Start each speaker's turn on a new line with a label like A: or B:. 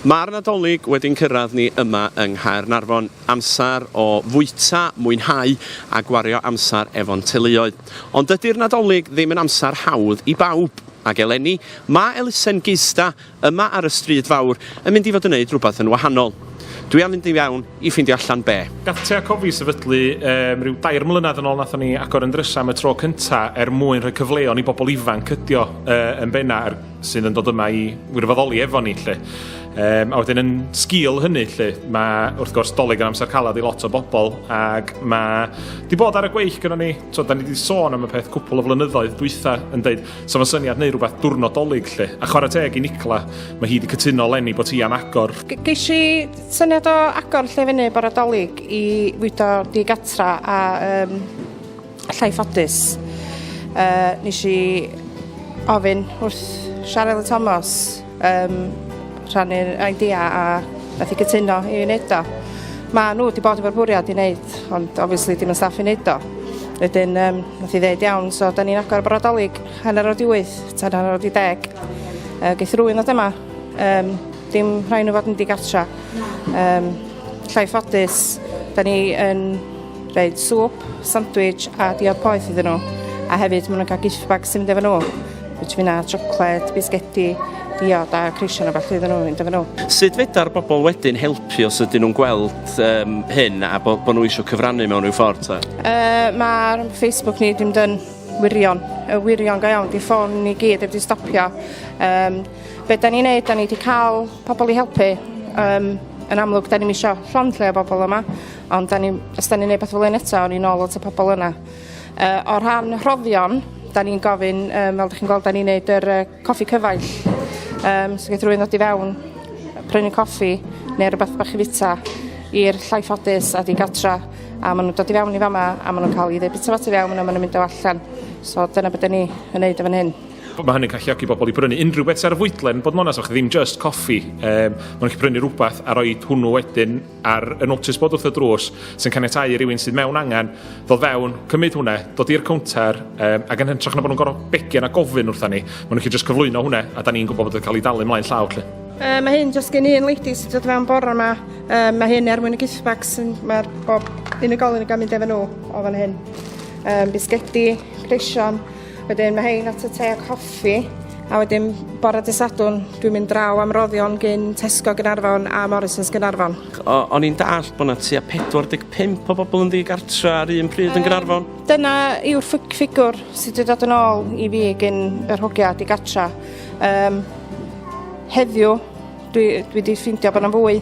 A: Mae'r Nadolig wedi'n cyrraedd ni yma yng Nghaernarfon, amser o fwyta, mwynhau a gwario amser efo'n teuluoedd. Ond dydy'r Nadolig ddim yn amser hawdd i bawb, ac eleni mae elusen Geista yma ar y Stryd Fawr yn mynd i fod yn neud rhywbeth yn wahanol. Dwi am fynd i fewn i ffeindio allan be. Gath Tea Cofi sefydlu um, rhyw dair mlynedd yn ôl nathon ni agor yn drysa am y tro cynta er mwyn rhoi cyfleon i bobl ifanc cydio uh, yn benna er sydd yn dod yma i wirfoddoli efo ni lle. Um, a wedyn yn sgil hynny lle, mae wrth gwrs dolyg yn amser calad i lot o bobl ac mae di bod ar y gweill gyda ni, so da ni wedi sôn am y peth cwpl o flynyddoedd dwytha yn dweud so mae syniad neu rhywbeth diwrnod dolyg lle. A chwarae teg i Nicla, mae hi wedi cytuno lenni bod hi am agor. Geis i
B: syniad o agor lle fyny bore dolyg i fwydo di gatra a um, Llai ffodus. Uh, nes i ofyn wrth Siarel Thomas um, rhannu'r idea a nath i cytuno i wneud o. Mae nhw wedi bod efo'r bwriad i wneud, ond obviously dim yn staff i wneud o. Wedyn, um, nath i ddeud iawn, so da ni'n agor y brodolig hanner o'r diwyth, tan hanner o'r di deg. Uh, geith rwy'n ddod yma, um, dim rhaid nhw fod yn digartra. Um, llai ffodus, da ni yn Rhaid swp, sandwich a diod poeth iddyn nhw. A hefyd maen nhw'n cael gift bag sy'n mynd efo nhw. Rwyt fi'n a siocled, bisgedi, diod a creision o fath iddyn nhw fynd efo nhw. Sut feda'r bobl wedyn helpu os ydyn nhw'n gweld um, hyn a bod bo nhw eisiau cyfrannu mewn rhyw ffordd? Ta? Uh, Mae'r Facebook ni ddim dyn wirion, y wirion go iawn, di ffôn ni gyd wedi stopio. Um, be da ni'n neud, da ni wedi cael pobl i helpu. Um, yn amlwg, da ni'n eisiau llond lle o bobl yma. Ond 'dan ni... Os 'dan ni'n neud petha fel 'yn eto awn ni nôl at y pobol yna. Yy o rhan rhoddion 'dan ni'n gofyn yym fel 'dych chi'n gweld 'dan ni'n neud yr yy coffi cyfaill yym so geith rywun ddod i fewn yy prynu coffi ne' rwbath bach i fita i'r llai ffodus a digartra a ma' nw'n dod i fewn i fa' 'ma a ma' nw'n ca'l i ddeud bita fo tu fewn a ma' nw'n mynd o allan so dyna be' 'dan ni yn neud yn fan hyn. Wel ma' hynny'n galluogi bobol i brynu unryw beth sy ar y fwydlen bod yn onast achos ddim jyst coffi yym ma' nw'n gallu prynu rwbath a roid hwnnw wedyn ar y notice bod wrth y drws sy'n caniatau i rywun sydd mewn angen ddod fewn, cymryd hwnna, dod i'r cownter um, ac yn hytrach na bod nhw'n gorfod begio a gofyn wrtha ni, maen nhw'n just cyflwyno hwnna a da ni'n gwybod bod yn cael ei dalu mlaen llaw lle. Uh, mae hyn jyst gen un lady sy'n dod fewn bore yma. Uh, mae hyn er mwyn y gift bags. Mae'r bob unigolyn yn gael mynd efo nhw o fan hyn. Um, bisgedi, creision, Wedyn mae hein at y te a coffi a wedyn bore dy Sadwrn dwi'n mynd draw am roddion gyn Tesco Gynarfon a Morrisons Gynarfon. O, o'n i'n dallt bod yna tua 45 o bobl yn ddigartra ar un pryd yn Gynarfon? Um, dyna yw'r ffigwr sydd wedi dod yn ôl i fi gyn yr hogia digartra. Um, heddiw dwi, dwi wedi ffeindio bod yna fwy